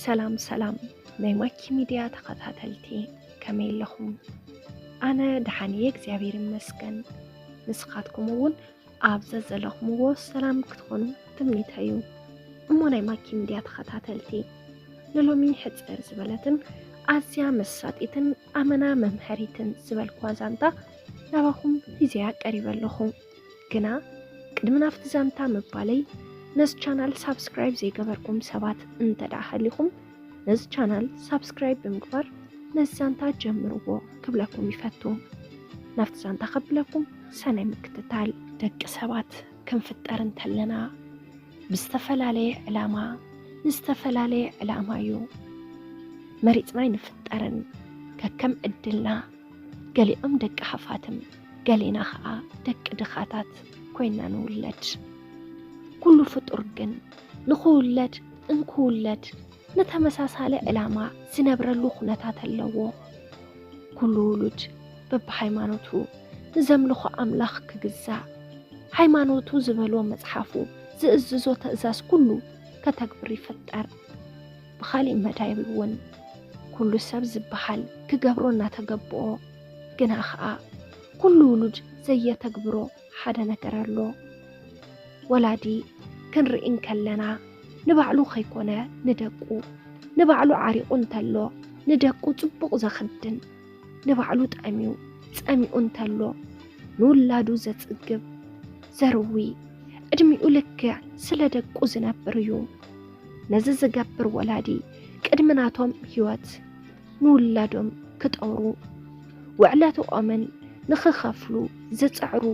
ሰላም ሰላም ናይ ማኪ ሚድያ ተኸታተልቲ ከመይ ኣለኹም? ኣነ ደሓን እየ እግዚኣብሔር ይመስገን። ንስኻትኩም እውን ኣብ ዘዘለኹምዎ ሰላም ክትኾኑ ትምኒተይ እዩ። እሞ ናይ ማኪ ሚድያ ተኸታተልቲ ንሎሚ ሕፅር ዝበለትን ኣዝያ መሳጢትን ኣመና መምሀሪትን ዝበልኩዋ ዛንታ ናባኹም ሂዘያ ቀሪበ ኣለኹ። ግና ቅድሚ ናብቲ ዛንታ ምባለይ ነዚ ቻናል ሳብስክራይብ ዘይገበርኩም ሰባት እንተ ደኣ ሃሊኹም ነዚ ቻናል ሳብስክራይብ ብምግባር ነዚ ዛንታ ጀምርዎ ክብለኩም ይፈቱ። ናብቲ ዛንታ ከብለኩም ሰናይ ምክትታል። ደቂ ሰባት ክንፍጠር እንተለና ብዝተፈላለየ ዕላማ ንዝተፈላለየ ዕላማ እዩ መሪፅና ኣይንፍጠርን ከከም ዕድልና ገሊኦም ደቂ ሃፋትም ገሌና ኸዓ ደቂ ድኻታት ኮይና ንውለድ። ኩሉ ፍጡር ግን ንኽውለድ እንክውለድ ንተመሳሳሊ ዕላማ ዝነብረሉ ኩነታት ኣለዎ። ኩሉ ውሉድ በብሃይማኖቱ ንዘምልኾ ኣምላኽ ክግዛእ፣ ሃይማኖቱ ዝበሎ መጽሓፉ ዝእዝዞ ትእዛዝ ኩሉ ከተግብር ይፍጠር። ብኻሊእ መዳይ እውን ኩሉ ሰብ ዝበሃል ክገብሮ እናተገብኦ ግና ኸኣ ኩሉ ውሉድ ዘየተግብሮ ሓደ ነገር ኣሎ። ወላዲ ክንርኢ እንከለና ንባዕሉ ከይኮነ ንደቁ፣ ንባዕሉ ዓሪቑ እንተሎ ንደቁ ጽቡቕ ዘኽድን፣ ንባዕሉ ጠምዩ ጸሚኡ እንተሎ ንውላዱ ዘጽግብ፣ ዘርዊ፣ ዕድሚኡ ልክዕ ስለ ደቁ ዝነብር እዩ። ነዚ ዝገብር ወላዲ ቅድሚ ናቶም ህይወት ንውላዶም ክጠሩ ውዕለትኦምን ንክኸፍሉ ዝፅዕሩ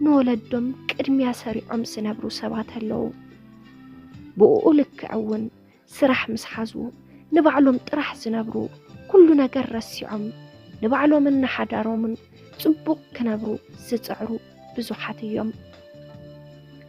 ንወለዶም ቅድሚያ ሰሪዖም ዝነብሩ ሰባት ኣለዉ። ብኡኡ ልክዕ እውን ስራሕ ምስ ሓዙ ንባዕሎም ጥራሕ ዝነብሩ ኩሉ ነገር ረሲዖም ንባዕሎምን ንሓዳሮምን ፅቡቕ ክነብሩ ዝፅዕሩ ብዙሓት እዮም።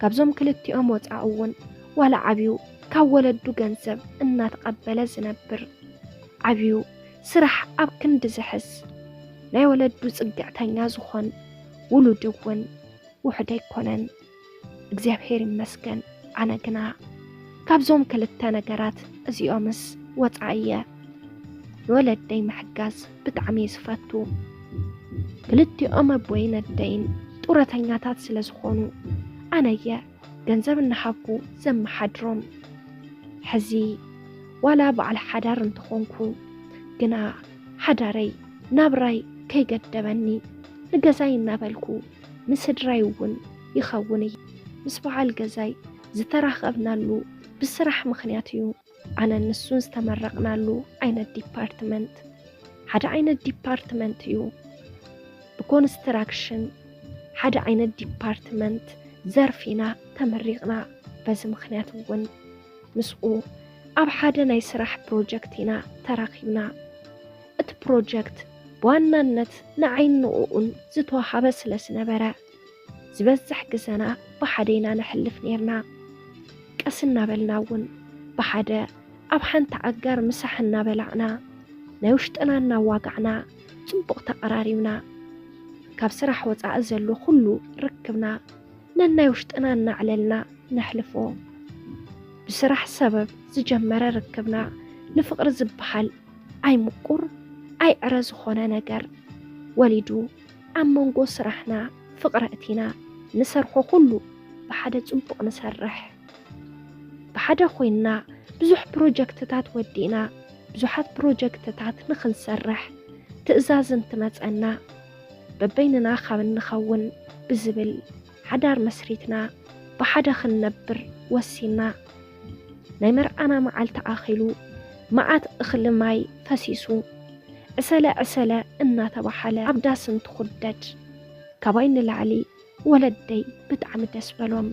ካብዞም ክልቲኦም ወፃኢ እውን ዋላ ዓብዩ ካብ ወለዱ ገንዘብ እናተቐበለ ዝነብር ዓብዩ ስራሕ ኣብ ክንዲ ዝሕዝ ናይ ወለዱ ፅግዕተኛ ዝኾን ውሉድ እውን ውሕድ ኣይኮነን። እግዚኣብሔር ይመስገን። ኣነ ግና ካብዞም ክልተ ነገራት እዚኦምስ ወፃኢ እየ። ንወለደይ ምሕጋዝ ብጣዕሚ እየ ዝፈቱ። ክልቲኦም ኣቦይን ኣደይን ጡረተኛታት ስለ ዝኾኑ ኣነየ ገንዘብ እናሃብኩ ዘመሓድሮም። ሕዚ ዋላ በዓል ሓዳር እንተኾንኩ ግና ሓዳረይ ናብራይ ከይገደበኒ ንገዛይ እናበልኩ ንስድራይ እውን ይኸውን እዩ። ምስ በዓል ገዛይ ዝተራኸብናሉ ብስራሕ ምኽንያት እዩ። ኣነን ንሱን ዝተመረቕናሉ ዓይነት ዲፓርትመንት ሓደ ዓይነት ዲፓርትመንት እዩ። ብኮንስትራክሽን ሓደ ዓይነት ዲፓርትመንት ዘርፍ ኢና ተመሪቕና። በዚ ምክንያት እውን ምስኡ ኣብ ሓደ ናይ ስራሕ ፕሮጀክት ኢና ተራኺብና። እቲ ፕሮጀክት ብዋናነት ንዓይን ንኡኡን ዝተዋሃበ ስለ ዝነበረ ዝበዝሕ ግዘና ብሓደ ኢና ነሕልፍ ነይርና። ቀስ እናበልና እውን ብሓደ ኣብ ሓንቲ ኣጋር ምሳሕ እናበላዕና ናይ ውሽጥና እናዋጋዕና ፅቡቕ ተቐራሪብና። ካብ ስራሕ ወፃኢ ዘሎ ኩሉ ርክብና ነናይ ውሽጥና እናዕለልና ነሕልፎ። ብስራሕ ሰበብ ዝጀመረ ርክብና ንፍቕሪ ዝበሃል ኣይ ምቁር ኣይ ዕረ ዝኾነ ነገር ወሊዱ። ኣብ መንጎ ስራሕና ፍቕሪ ኣእቲና ንሰርሖ ኩሉ ብሓደ ጽቡቕ ንሰርሕ። ብሓደ ኮይንና ብዙሕ ፕሮጀክትታት ወዲእና ብዙሓት ፕሮጀክትታት ንኽንሰርሕ ትእዛዝ እንትመጸና በበይንና ካብ እንኸውን ብዝብል ሓዳር መስሪትና ብሓደ ክንነብር ወሲና። ናይ መርዓና መዓልቲ ኣኺሉ መዓት እኽሊ ማይ ፈሲሱ ዕሰለ ዕሰለ እናተባሓለ ኣብ ዳስ እንትኹደድ ካባይ ንላዕሊ ወለደይ ብጣዕሚ ደስ በሎም።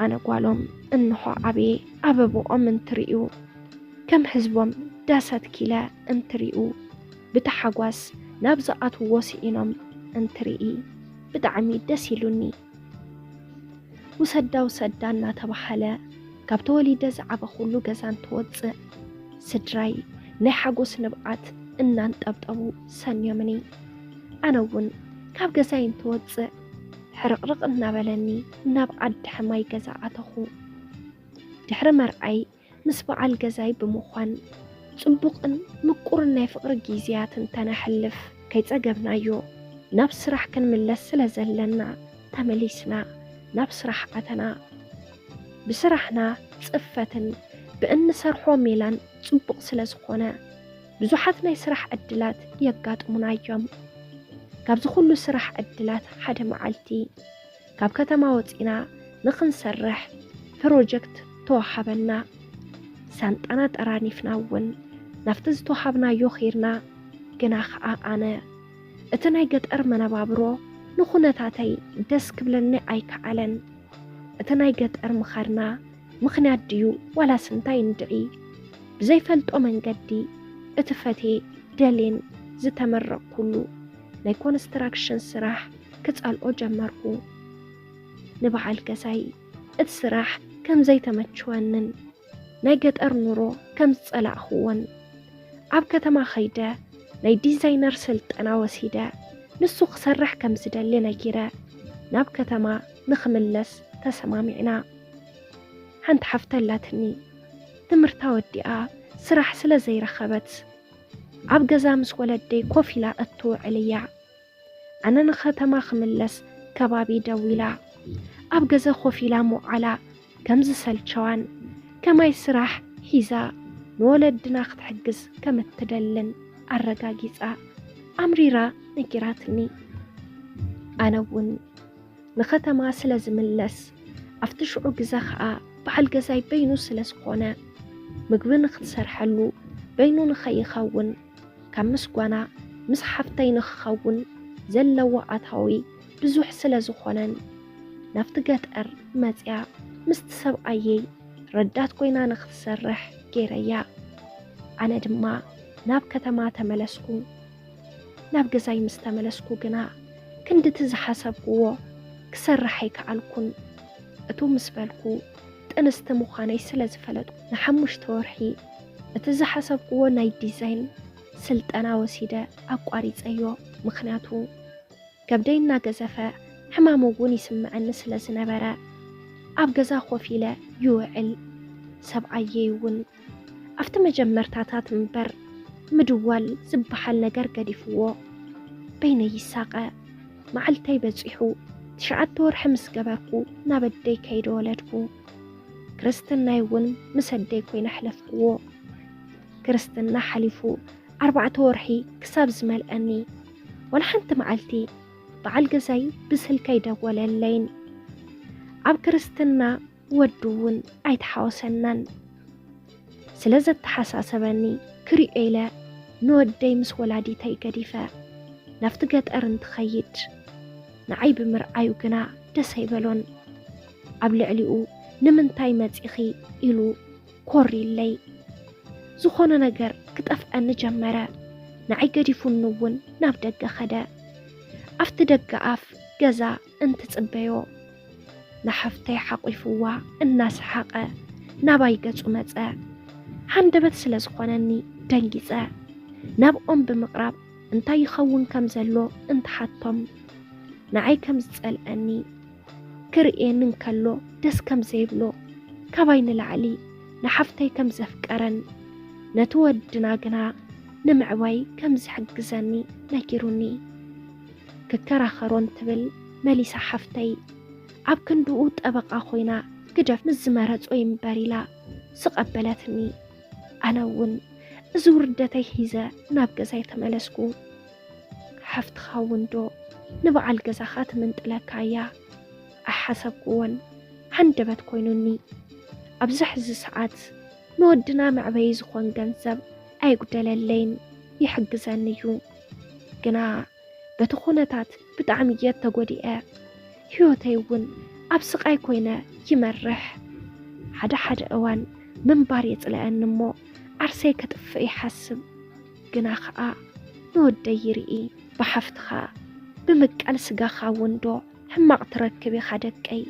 ኣነ ጓሎም እንሆ ዓብየ ኣበብኦም እንትርእዩ ከም ህዝቦም ዳስ ኣትኪለ እንትርእዩ ብታሓጓስ ናብ ዝኣትውዎ ስኢኖም እንትርኢ ብጣዕሚ ደስ ኢሉኒ ውሰዳ ውሰዳ እናተባሃለ ካብ ተወሊደ ዝዓበኹሉ ገዛ እንትወፅእ ስድራይ ናይ ሓጎስ ንብዓት እናንጠብጠቡ ሰንዮምኒ ኣነ እውን ካብ ገዛይ እንትወፅእ ሕርቕርቕ እናበለኒ ናብ ዓዲ ሕማይ ገዛ ኣተኹ ድሕሪ መርዓይ ምስ በዓል ገዛይ ብምዃን ጽቡቕን ምቁርን ናይ ፍቕሪ ጊዝያት እንተነሕልፍ ከይጸገብናዮ ናብ ስራሕ ክንምለስ ስለ ዘለና ተመሊስና ናብ ስራሕ ኣተና። ብስራሕና ጽፈትን ብእንሰርሖ ሜላን ጽቡቕ ስለ ዝኾነ ብዙሓት ናይ ስራሕ ዕድላት የጋጥሙና እዮም። ካብዚ ኩሉ ስራሕ ዕድላት ሓደ መዓልቲ። ካብ ከተማ ወፂና ንክንሰርሕ ፕሮጀክት ተዋሃበና። ሳንጣና ጠራኒፍና እውን ናብቲ ዝተዋሃብናዮ ኬድና። ግና ከዓ ኣነ እቲ ናይ ገጠር መነባብሮ ንኩነታተይ ደስ ክብለኒ ኣይከኣለን። እቲ ናይ ገጠር ምኻድና ምኽንያት ድዩ ዋላስ እንታይ እንድዒ ብዘይፈልጦ መንገዲ እቲ ፈቴ ደሌን ዝተመረቕኩሉ ናይ ኮንስትራክሽን ስራሕ ክጸልኦ ጀመርኩ። ንበዓል ገዛይ እቲ ስራሕ ከም ዘይተመችወንን ናይ ገጠር ኑሮ ከም ዝጸላእኽዎን ኣብ ከተማ ከይደ ናይ ዲዛይነር ስልጠና ወሲደ ንሱ ክሰርሕ ከም ዝደሊ ነጊረ ናብ ከተማ ንክምለስ ተሰማሚዕና። ሓንቲ ሓፍቲ ኣላትኒ ትምህርታ ወዲኣ ስራሕ ስለ ዘይረኸበት ኣብ ገዛ ምስ ወለደይ ኮፍ ኢላ እትውዕል እያ። ኣነ ንኸተማ ክምለስ ከባቢ ደው ኢላ ኣብ ገዘ ኮፍ ኢላ ምውዓላ ከም ዝሰልቸዋን ከማይ ስራሕ ሒዛ ንወለድና ክትሕግዝ ከም እትደልን ኣረጋጊጻ ኣምሪራ ነጊራትኒ። ኣነ እውን ንኸተማ ስለ ዝምለስ ኣብቲ ሽዑ ግዘ ኸኣ በዓል ገዛይ በይኑ ስለ ዝኾነ ምግቢ ንክትሰርሐሉ በይኑ ንኸይኸውን ካብ ምስጓና ምስ ሓፍተይ ንክኸውን ዘለዎ ኣታዊ ብዙሕ ስለ ዝኾነን ናብቲ ገጠር መጺኣ ምስቲ ሰብኣየይ ረዳት ኮይና ንክትሰርሕ ገይረያ። ኣነ ድማ ናብ ከተማ ተመለስኩ። ናብ ገዛይ ምስ ተመለስኩ ግና ክንድቲ ዝሓሰብኩዎ ክሰርሕ ኣይከኣልኩን። እቱ ምስ በልኩ ጥንስቲ ምዃነይ ስለ ዝፈለጥኩ፣ ንሓሙሽተ ወርሒ እቲ ዝሓሰብኩዎ ናይ ዲዛይን ስልጠና ወሲደ ኣቋሪጸዮ። ምኽንያቱ ከብደይ እናገዘፈ ሕማም እውን ይስምዐኒ ስለ ዝነበረ ኣብ ገዛ ኮፍ ኢለ ይውዕል። ሰብኣየይ እውን ኣብቲ መጀመርታታት እምበር ምድዋል ዝበሓል ነገር ገዲፍዎ በይነይ ይሳቐ። መዓልተይ በጺሑ ትሽዓተ ወርሒ ምስ ገበርኩ ናብ ኣደይ ከይደ ወለድኩ። ክርስትናይ እውን ምስ ኣደይ ኮይነ ኣሕለፍክዎ። ክርስትና ሓሊፉ ኣርባዕተ ወርሒ ክሳብ ዝመልኣኒ ወላ ሓንቲ መዓልቲ በዓል ገዛይ ብስልከይ ደወለለይን። ኣብ ክርስትና ወዱ እውን ኣይተሓወሰናን ስለ ዘተሓሳሰበኒ ክሪኦ ኢለ ንወደይ ምስ ወላዲተይ ገዲፈ ናብቲ ገጠር እንትኸይድ ንዓይ ብምርኣዩ ግና ደስ ኣይበሎን። ኣብ ልዕሊኡ ንምንታይ መጺኺ ኢሉ ኮር ኢለይ ዝኾነ ነገር ክጠፍኣኒ ጀመረ። ንዓይ ገዲፉኒ እውን ናብ ደገ ኸደ። ኣብቲ ደገ ኣፍ ገዛ እንትጽበዮ ንሓፍተይ ሓቚፉዋ እናሰሓቐ ናባይ ገጹ መጸ። ሃንደበት ስለ ዝኾነኒ ደንጊጸ ናብኦም ብምቕራብ እንታይ ይኸውን ከም ዘሎ እንትሓቶም ንዓይ ከም ዝጸልኣኒ ክርእየኒ እንከሎ ደስ ከም ዘይብሎ ካባይ ንላዕሊ ንሓፍተይ ከም ዘፍቀረን ነቲ ወድና ግና ንምዕባይ ከም ዝሕግዘኒ ነጊሩኒ። ክከራኸሮን ትብል መሊሳ ሓፍተይ ኣብ ክንድኡ ጠበቓ ኮይና ግደፍ ምስ ዝመረጾ ይንበር ኢላ ዝቐበለትኒ ኣነ እውን እዚ ውርደተይ ሒዘ ናብ ገዛይ ተመለስኩ ሓፍትኻ እውን ዶ ንበዓል ገዛኻ ትምንጥለካ እያ ኣይሓሰብኩዎን ሃንደበት ኮይኑኒ ኣብዚ ሕዚ ሰዓት ንወድና መዕበዪ ዝኾን ገንዘብ ኣይጉደለለይን ይሕግዘኒ እዩ ግና በቲ ኩነታት ብጣዕሚ እየ ተጎዲኤ። ህይወተይ እውን ኣብ ስቃይ ኮይነ ይመርሕ። ሓደ ሓደ እዋን ምንባር የፅለኣኒ እሞ ዓርሰይ ከጥፍእ ይሓስብ። ግና ከዓ ንወደይ ይርኢ። ብሓፍትኻ ብምቃል ስጋኻ እውን ዶ ሕማቕ ትረክብ ኢኻ ደቀይ።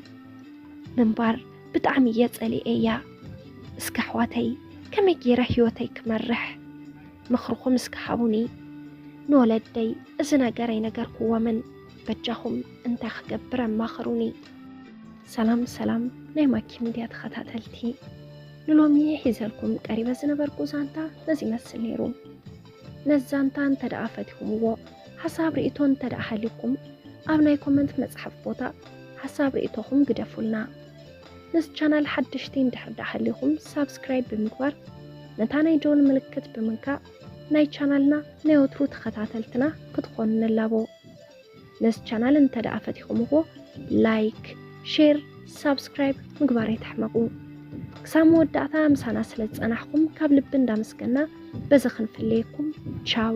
ምንባር ብጣዕሚ እየ ፀሊኤያ። እስከ ኣሕዋተይ ከመይ ገይረ ህይወተይ ክመርሕ? ምኽርኹም እስከ ሃቡኒ ንወለደይ እዚ ነገር ኣይነገርኩዎምን በጃኹም እንታይ ክገብር ኣማኽሩኒ። ሰላም ሰላም ናይ ማኪ ሚድያ ተኸታተልቲ ንሎሚ ሒዘልኩም ቀሪበ ዝነበርኩ ዛንታ ነዚ ይመስል ነይሩ። ነዚ ዛንታ እንተ ደኣ ፈቲኹምዎ ሓሳብ ርእቶ እንተ ደኣ ሃልዩኩም ኣብ ናይ ኮመንት መጽሓፍ ቦታ ሓሳብ ርእቶኹም ግደፉልና። ነዚ ቻናል ሓደሽቲ እንድሕር ዳኣ ሃሊኹም ሳብስክራይብ ብምግባር ነታ ናይ ደወል ምልክት ብምንካእ ናይ ቻናልና ናይ ወትሩ ተኸታተልትና ክትኾኑ ንላቦ። ነዚ ቻናል እንተ ዳኣ ፈቲኹምዎ ላይክ፣ ሼር፣ ሳብስክራይብ ምግባር ኣይትሕመቁ። ክሳብ መወዳእታ ምሳና ስለ ዝጸናሕኩም ካብ ልቢ እንዳመስገና በዚ ክንፍለየኩም ቻው።